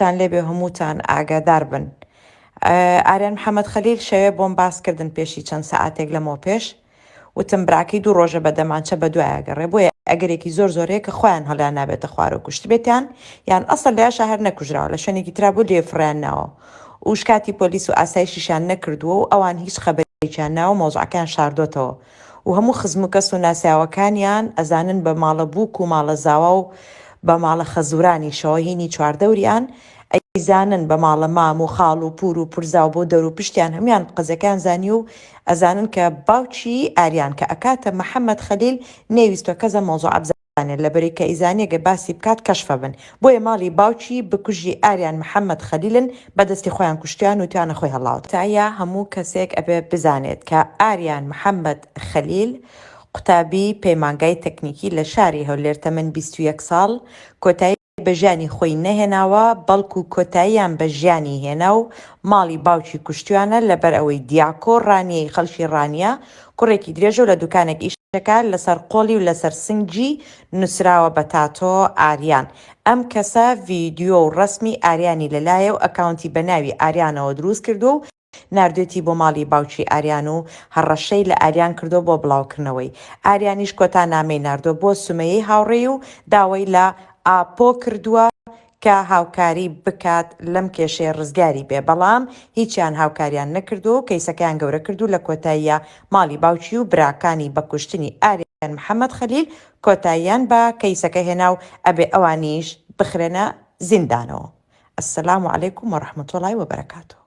تان لێبێ هەمووتان ئاگادار بن ئاریان محەممەد خەلیل شەوێ بۆم باس کردن پێشی چەند سەعاتێک لەمەوە پێش وتم براکەی دوو ڕۆژە بە دەمانچە بە دوایە گەڕێ بۆیە ئەگەرێکی زۆر زۆرەیە کە خۆیان هەڵیان نابێتە خوارەوە کوشتبێتیان یان ئەسڵ لەیاشە هەر نەکوژراوە لە شوێنێکی ترا بۆ لێ فڕیان ناوە و شکاتی پۆلیس و ئاسایشیشیان نەکردووە و ئەوان هیچ خەبەرێکیان ناوە مەوزعەکەیان شاردۆتەوە و هەموو خزم و کەس و ناسیاوەکانیان ئەزانن بە ماڵە بووک و ماڵە زاوا و بە ماڵە خەزورانیشەوە هینی چواردەوریان ئەیزانن بە ماڵە مام و خاڵ و پور و پورزا و بۆ دەرو پشتیان هەموویان قەزیەکەیان زانی و ئەزانن کە باوکی ئاریان کە ئەکاتە محمد خلیل نەیویستوە کەس ئەم مەوزوعە بزانێت. زانێ لەبری کە ئیزانیە گە باسی بکات کەشفە بن بۆیە ماڵی باوکی بکوژی ئاریان محمد خلیلن بەدەستی خۆیان کوشتیان و تویانە خۆی هەڵاوت. تکایە هەموو کەسێک ئەبێ بزانێت کە ئاریان محمد خلیل قوتابی پەیمانگای تەکنیکی لە شاری هەولێر تەمەن بیست و یەک ساڵ کۆتایی. بە ژیانی خۆی نەهێناوە بەڵکو کۆتاییان بە ژیانی هێنا و ماڵی باوکی کوشتویانە لەبەر ئەوەی دیاکۆ ڕانیەی خەڵکی ڕانیە کوڕێکی درێژە و لە دوکانێک ئیش دەکا لەسەر قۆڵی و لەسەر سنگی نوسراوە بە تاتۆ ئاریان ئەم کەسە ڤیدیۆ و ڕەسمی ئاریانی لەلایە و ئەکاونتی بە ناوی ئاریانەوە دروست کردوە و ناردویەتی بۆ ماڵی باوکی ئاریان و هەڕەشەی لە ئاریان کردوە بۆ بڵاوکردنەوەی، ئاریانیش کۆتا نامەی ناردوە بۆ سومەیەی هاوڕێی و داوای لە ئاپۆ کردوە کە هاوکاری بکات لەم کێشەیە ڕزگاری بێ بەڵام هیچیان هاوکاریان نەکردوە و کەیسەکەیان گەورە کردو لە کۆتاییا ماڵی باوکی و براکانی بە کوشتنی ئاریان محمد خلیل کۆتاییان بە کەیسەکە هێنا و ئەبێ ئەوانیش بخرێنە زیندانەوە السلام علیکم و رحمتوڵای وبرکاتوه.